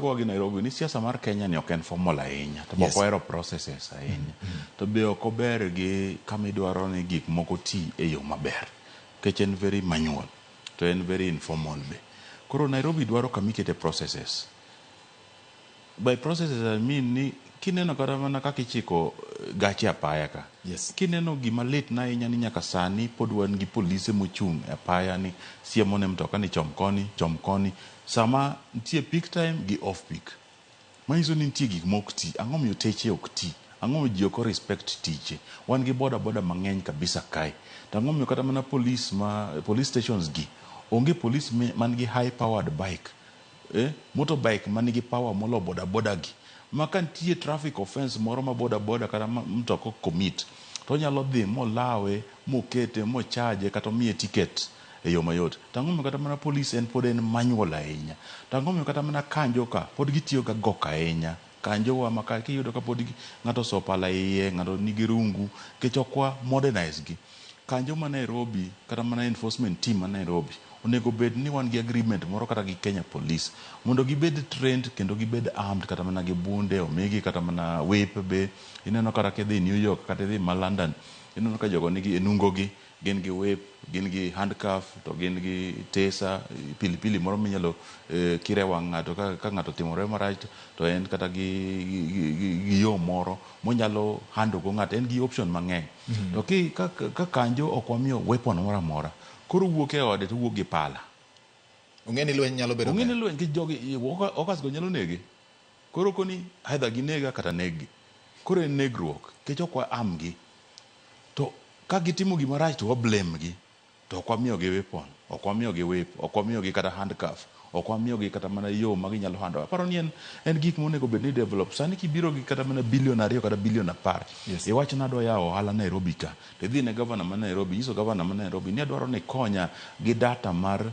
Gowa gi Nairobi ni siasa mar Kenya ni ok en formal ahinya to yes. ok ohero processes ahinya mm -hmm. to be ok ober gi kama idwaro ni gik moko ti e yo maber nikech en very manual to en very informal be koro Nairobi dwaro kama ikete processes by processes I mean ni kineno kata mana kaka ichiko eh, gache apaya ka yes. kineno gima lit na ahinya ni nyaka sani pod wan gi polise mochung' e apaya ni siemo ne mtoka ni chom koni chom koni Sama nitie peak time gi off peak. Manyiso ni nitie gik maok ti. Ang'o momiyo teche ok ti? Ang'o momiyo ji ok o respect tije? Wan gi boda boda mang'eny kabisa kae. To ang'o momiyo kata mana police ma police stations gi onge police man gi high powered bike, eh, motor bike man gi power molo boda boda gi. Ma ka nitie traffic offence moro ma boda boda kata mtoka o commit to onyalo dhi molawe mokete mo charge kata omiye ticket. e yo mayot. To ang'o momiyo kata mana polis en pod en manual ahinya? To ang'o momiyo kata mana kanjo ka pod gitiyo ga gok ahinya? Kanjo wa ma ka kiyudo ka pod ng'ato oso pala iye, ng'ato nigi rungu, nikech ok wa modernize gi. Kanjo ma Nairobi kata mana enforcement team ma Nairobi, onego bed ni wan gi agreement moro kata gi Kenya Police mondo gibed trained kendo gibed armed kata mana gi bunde, omigi kata mana whip be. Ineno kata kidhi New York kata idhi ma London, ineno ka jogo nigi e nungo gi. Gin gi whip, gin gi handcuff to gin gi taser, pili pili moro minyalo kir e wang' ng'ato ka ng'ato otimore marach to en kata gi gi yo moro monyalo handle go ng'ato. En gi option mang'eny. To ka kanjo ok wamiyo weapon moro amora, koro owuok e ode to owuok gi pala. Ong'e ni lweny nyalo bedo kae. Ong'e ni lweny nikech jogi hawkers go nyalo nege. Koro okoni either ginega kata neggi. Koro en negruok nikech ok wa arm gi. To ka gitimo gima rach to wa blame gi. To ok wamiyogi weapon, ok wamiyogi whip, ok wamiyogi kata handcuff, ok wamiyogi kata mana yo ma ginyalo handle go. Aparo ni en en gik monego bed ni i develop. Sani kibiro gi kata mana billion ariyo kata billion apar, Yes. iwacho ni adwa yawo ohala Nairobi ka, to idhi ine governor ma Nairobi, inyiso governor ma Nairobi ni adwaro ni ikonya gi data mar